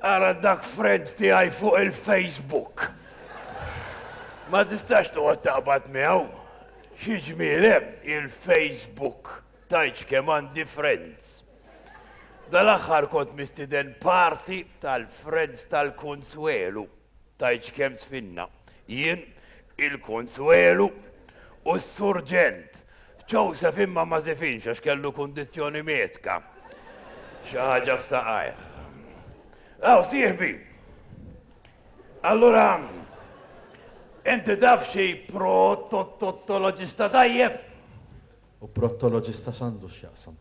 Ara dak friend tiegħi fuq il-Facebook. Ma tistax toqgħod taqbad miegħu. Xi ġmiel hemm il-Facebook tajċ kemm għandi friends. Dal-aħħar kont mistiden parti tal-friends tal-Kunsuelu. Tgħidx kemm sfinna, jien, il-Kunsuelu u s-Surġent. Joseph imma ma żifinx għax kellu kundizzjoni medka. Xi ħaġa f'saqajh. Aw, sieħbi! Allura, inti taf xi pro-tot-tot-toloġista tajjeb? U prottoloġista x'għandu x'jaqsam?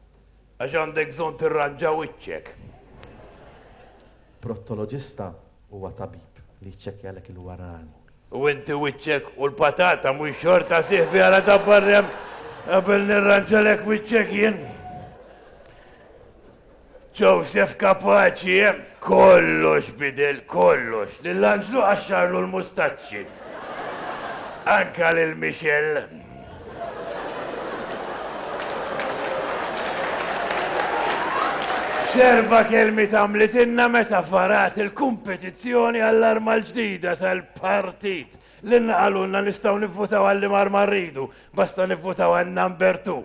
Għax għandek bżonn tirranġa wiċċek. Prottoloġista huwa tabib li jċċekkjalek il-warani. U inti wiċċek u l-patata mhux xorta sieħbi għala dabbar hemm qabel nirranġalek wiċċek jien. Joseph kapaċi, eh? Kollox bidel, kollox. Lil Anġlu qaxxarlu l-mustaċċi. Anka lil Michelle. Serba kelmi tamlitinna meta farat il-kompetizzjoni għall-arma l-ġdida tal-partit Lilna qalulna nistgħu nivvutaw għal liema arma rridu, basta nivvutaw għal number two.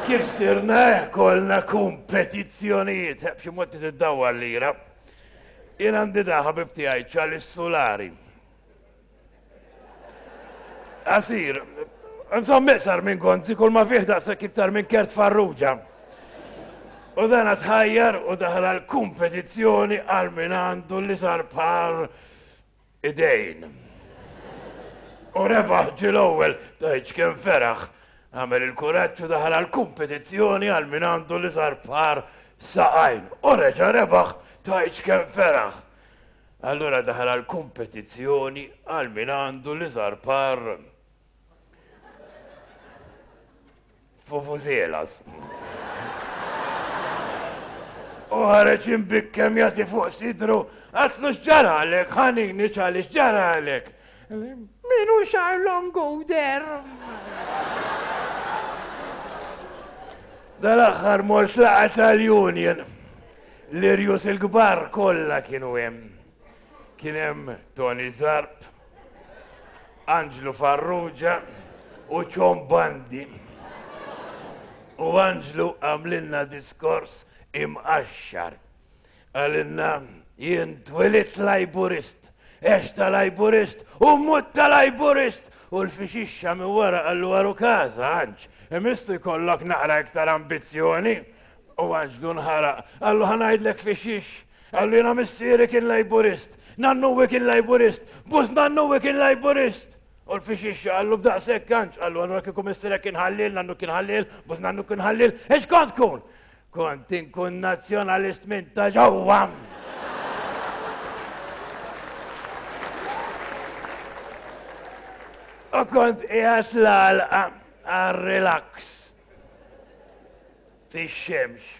Kif sirna hekk għolna kumpetizzjonijiet, eh, b'xi mod tiddawwar lira. Jien għandi da ħabib tiegħi ċali s-sulari. Asir, nżomm iqsar minn gonzi kull ma fih daqshekk iktar minn kert farruġa. U dan tħajjar u daħal għal-kompetizzjoni għal min għandu li sar par idejn. U rebaħ ġie l-ewwel, tgħidx kemm feraħ. Għamel il-kuraġġ u daħal għall-kumpetizzjoni għal min għandu l-iżgħar par saqajn. U reġa' rebaħ, tgħidx kemm feraħ. Allura daħal għall-kumpetizzjoni għal min għandu l-iżgħar par Fufużielas. U ħareġ imbikkem jati fuq sidru, għatlu xġaralek, ħanini ċali xġaralek. Minu xar longu der. Dal-axħar mort laqat tal-Union. L-irjus il-gbar kolla kienu hemm. Kien hemm Toni Zarb, Anġlu Farrugia u Ċon Bandi. U Anġlu għamlilna diskors imqaxxar. Qalilna jien twilidt Lajburist, għext ta' Lajburist u mmut ta' Lajburist! U l-fixixxa minn wara qallu waru każa, Anġ, imissu jkollok naqra iktar ambizzjoni! U Anġlu nħaraq, qallu ħa ngħidlek fixix! Allina missieri kien Lejburist, nannuwi kien Lejburist, bus nannuwi kien Lejburist! U l-fixixxa qallu b'daqshekk kanċ, qallu allura kieku missierek kien ħalliel, nannu kien ħalliel, bus nannu kien ħalliel, ex kont tkun? Kont inkun nazzjonalist minn ta' ġewwa! U kont qiegħed l-għalqa għal relax fix-xemx.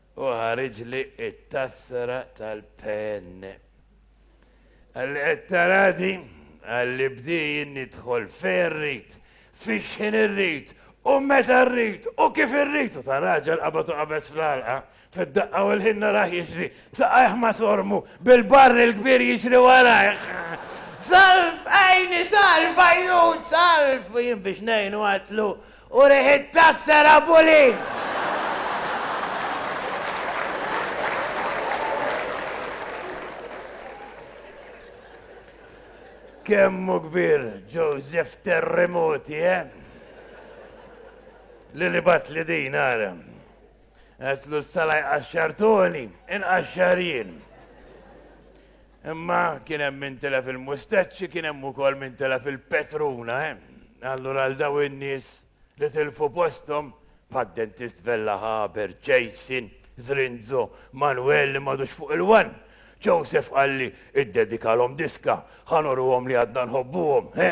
u ħariġli t-tassra tal-PN. Għalhekk taradi għalli bdejn nidħol fejn irrid, fix-xħin irrid u meta rrid u kif irrid u ta' raġel qabad u qabeż fl-għalqa, fid-daqqa u l-ħin narah jiġri b'saqajh ma' sormu, bil-barr il-kbir jiġri warajh. Salv għajni, salv għajnut, salv! U jien biex ngħinu għatlu, U riħit tassar Abu Lin! Kemm hu kbir Joseph Terremoti, eh? Li li bat li din ara. Għetlu s-salaj qaxxartoni, inqaxxar jien. Imma kien hemm min tilef il-mustaċċi, kien hemm ukoll min tilef il-petruna. Allura għal daw in-nies li tilfu posthom bħad-dentist Vella Haber, Jason, Zrinzo, Manwel li m'għadux fuq il-wan, Joseph Qalli, iddedikalhom diska, ħa nurruhom li għadna nħobbuhom, he?